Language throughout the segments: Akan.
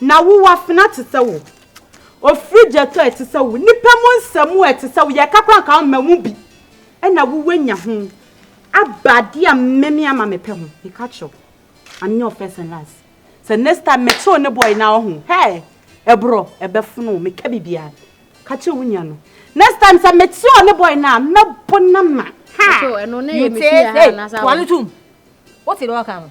Na wo wɔ afena te sɛ wo. Ofiri gya tɔ ɛte sɛ wo. Nnipa mu nsa mu ɛte sɛ wo. Yɛka koraa nka womma mu bi. Ɛna wo wanya ho aba adeɛ a mɛmi ama me pɛ ho. Meka kyerɛ wo. Ame nyɛ wo first and last. Sɛ next time me te wo ne boy na ɔho hɛɛ ɛborɔ ɛbɛfono wo. Meka biribiara ka kyerɛ wo nua no. Next time sɛ me te ɔne boy no a mɛbo no ama. Ha! Mete ee. Toa no tom. Wote deɛ ɔka no.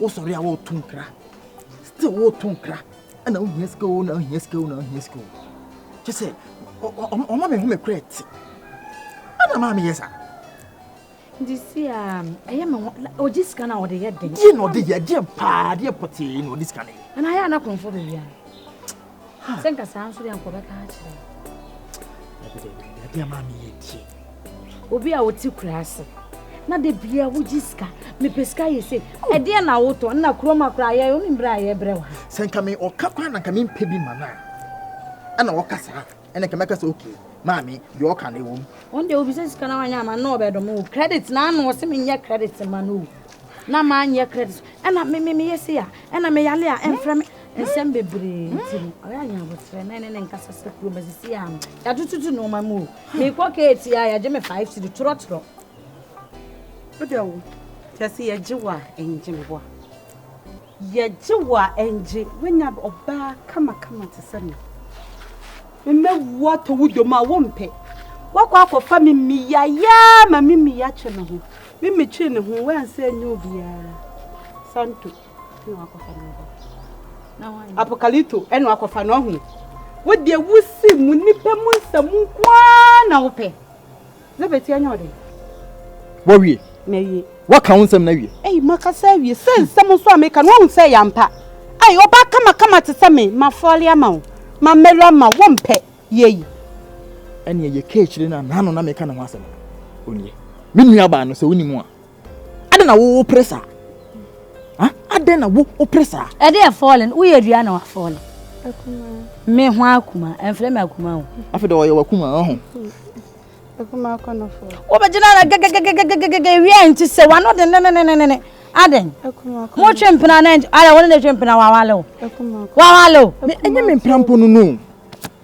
wosɔre a woreto nkra still woreto nkra ɛna wohia sika o na wohia sika o na wohia sika o kyɛ sɛ ɔma me ho me korɛ te ɛna maa meyɛ saa nti si a ɛyɛ me ho ɔgye sika no a ɔde yɛ den deɛ na ɔde yɛ deɛ paa deɛ pɔtee na ɔde sika no yɛ ɛna ayɛ anakɔmfoɔ baabiara sɛ nka saa nso deɛ nkɔbɛka akyerɛ dabi ama meyɛ tie obi a wote kura ase na da bia wogye sika mepɛ sika yɛ se ɛdeɛ na wotɔ nna kurom akora yɛ wo ne mmerɛ a yɛbrɛ wo ha sɛ nka me ɔka kwan na nka mempɛ bi ma no a ɛna wɔka saa ɛna nka mɛka sɛ okay maame deɛ ɔka no ɛwɔ mu ɔno deɛ obisa sika na wanyɛ ama no ɔbɛdɔm o credit na ano ɔse menyɛ credit ma no o na manyɛ credit ɛna me me meyɛ se a ɛna meyale a ɛmfrɛ me nsɛm bebree nti no ɔyɛ anyɛ aboterɛ na ɛne ne nkasa sɛ kuro masisi a no yɛatototo nnoɔma mu o mekɔ keeti a yɛgye me five siri torɔtorɔ wodɛ wo kyɛ sɛ yɛgye wo a ɛngye meboa Yɛgye wo a ɛngye. Wanya ɔbaa kamakama te sɛ me. Mɛwu atɔ wo dɔ mu a wompɛ. Woakɔ akɔfa me mmiya yaa ma me mmiya twe me ho. Me metwee ne ho woansa annya obiara. Santo ɛna wakɔfa no aba. Apokalito ɛna wakɔfa no ahu. Wo deɛ wosi mu nipa mu nsɛm nko ara na wopɛ. Na betia nyɛ ɔde. Wawie. Mawie. Waka wo nsɛm no awie. Ei, makasa awie. Sɛ nsɛm nso a meka no, woahu sɛ ɛyɛ ampa. Ei, ɔbaa kamakama te sɛ me, mafɔle ama wo, mamelu ama wo, wompɛ. Yei. Ɛnneɛ yɛka akyire no a, n'ano na meka ne ho asɛm no. Onnie. Me nuabaa no, sɛ wonim a, Adɛn na wo wopere saa? Adɛn na wo wopere saa? Ɛde ɛfɔɔle no, woyɛ dua na wafɔɔle. Me ho akuma, ɛmfrɛ me akuma o. Afei de ɔyɛ wakuma ɔho. Akuma akɔnɔfo. Wobɛgyina na gɛgɛgɛgɛgɛgɛgɛ wia nti sɛ wano de nenenenene. Adɛn? Motwe mpena na ɛnti, adɛn wo ne ne twe mpena wawale o. Wawale o. Ɛnyɛ me mpena mpo no no.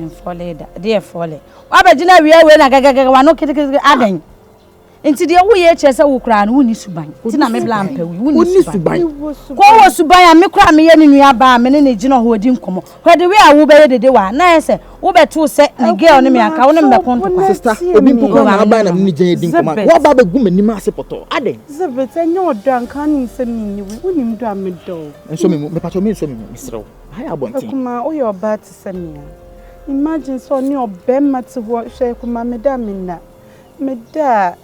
Mfɔle da. Deɛ ɛfɔle. Woabɛgyina awia wei na gɛgɛgɛgɛ w'ano ketekete adɛn? Nti deɛ woyɛ yi kyerɛ sɛ wo koraa no wonni suban nti na me bla mpɛ wo wonni suban. Kɔ wowɔ suban a me koraa meyɛ ne nua baa a me ne no gyina hɔ di nkɔmmɔ hwɛ the way a wobɛyɛ dede wɔ ha na ayɛ sɛ wobɛtoo sɛ ne girl ne me anka wo ne me bɛko ntɔkwa. Sista obi mpo koraa na aba a na me ne gyina di nkɔmmɔ a woaba abɛgu m'anim ase pɔtɔɔ adɛn? Zibit ɛnyɛ ɔdɔ a nka wonim sɛ menni wo wonim dɔ a medɔ wo. Nsɔ me mu mepakyɛw mensɔ me mu meserɛ wo. Akumaa woyɛ ɔbaa te sɛ me a imagine sɛ ɔne ɔbɛma te hɔ hwɛ akumaa meda a menna meda a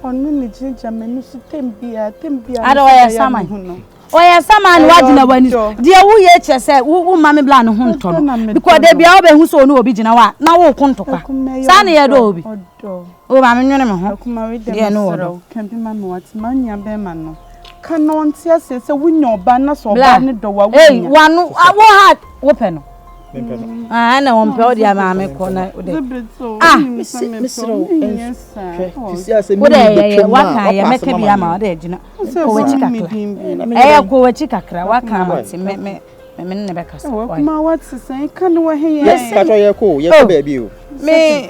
ɔne ne gyina gyina m'ani so tem biara tem biara ada ɔyɛ saman ɔyɛ saman no wagyina w'ani deɛ woyɛ kyerɛ sɛ woma me bla ne ho ntɔ no because da biara wobɛhu sɛ ɔne obi gyina hɔ a na woko ntɔkwa saa ne yɛ dɔ obi O Maame nwene me ho, deɛ no wɔ do. Bla ei wano wo ha wo pɛ no ɛna wɔn pɛ ɔde maame kɔ na ɔde ah mesrɛ wo wode ɛyɛ waka yɛ mɛka bi ama ɔde agyina kɔ wakyi kakra ɛyɛ kɔ wakyi kakra waka ama te me me me ne bɛka so wɔn kuma wɔte sɛn ka ne wɔ he yɛ yɛ kɔ yɛ kɔ baabi o me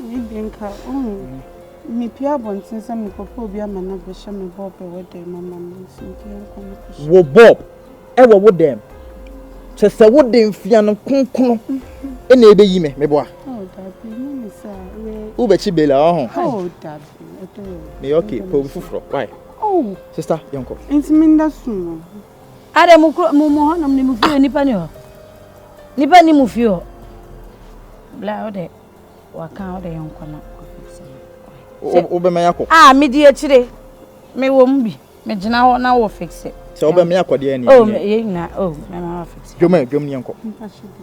Ebia nka ohu me pue abɔnten sɛ mekɔpɛ obi ama no abɛhyɛ me Bob wɔ dɛm ama me nso nti yɛnkɔ no kɔhyɛ. Wo Bob wɔ wo dɛm? Kyɛ sɛ wo de mfea no kronkron mm-hmm. na ebeyi me meboa. Oh dabi ne ne sɛ yɛ. Wobɛkyi bela ɔho. Oh dabi ɛdɛ. Ne okay pɛ obi foforɔ why. Oh sista yɛnkɔ. Nti me nda sum o. Ada mu kuro mu mu hɔnom ne mu fie nipa ni hɔ nipa ni mu fie hɔ bla ɔdɛ waka ɔdɛ yɛn nkɔ na wobɛma yɛ akɔ a medi akyire mewɔ mu bi megyina hɔ na wɔ fixe sɛ wobɛma yɛ akɔdeɛ ne oh yɛ nyina oh mɛma wɔ fixe dwom a dwom ne yɛnkɔ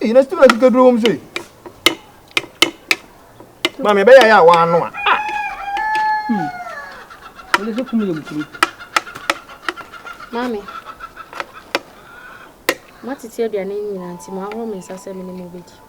Eyi na student ka duro wɔm so yi. Maame ebe ya ya wa ano a. Hmm. Ele se kumu yem kuru. Maame. Ma tete aduane nyina nti ma ahoro me nsa sɛ me ne mo bedi.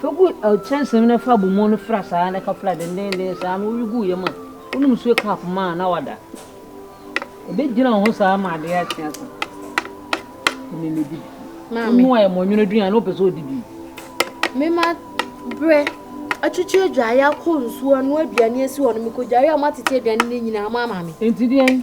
Fa gu kyɛnsee mu na fa abomu no fra saa na ka fra dendenden saa na woyi gu yam a, wonom nsuo cup ma a na wada. Ɛbɛgyina wo ho saa ma adeɛ akye asa. Ɛne ne di. Maame. Wonoa yɛ mɔnwono aduane wopɛ sɛ ɔdi bi. Mema berɛ atwitwi adwaeɛ akɔ nsuo ano aduane asi hɔ no mekɔdware a moatete aduane no nyinaa mo ama me. Ɛnti deɛn?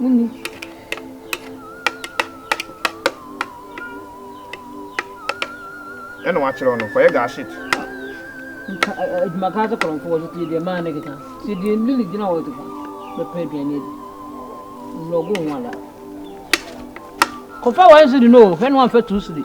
Munni. Ɛna wakyerɛw no kɔyɛ gaashit. Nka ɛ- ɛ- adwuma kaa sɛ kɔrɔmfo wɔ so tie deɛ maa ne keka tie deɛ ne ne gyina hɔ to fa bɛpɛ aduane adi wura ɔgo ho ada kɔfa wɔn siri no o hwɛ no amfa tu siri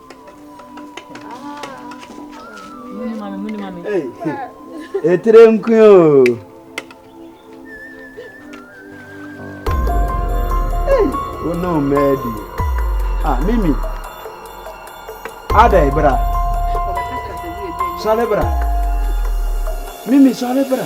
Etire nkwe o. Wo ne ɔma adi. Ah, Mimi. Adai bra. Sɔre bra. Mimi sɔre bra.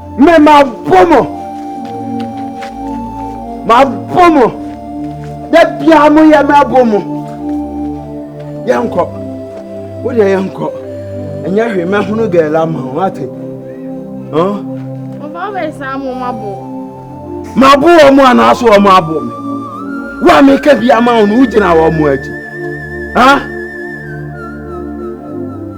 Me mabɔ mo mabɔ mo da biara mo yɛ mabɔ mo yɛnkɔ wo deɛ yɛnkɔ ɛnyɛ hwee mɛhono gɛɛla ama ho ate mabo wɔ mo anaaso wɔ mo abo me wo a meka bi ama wo no wogyina wɔ mo akyi ha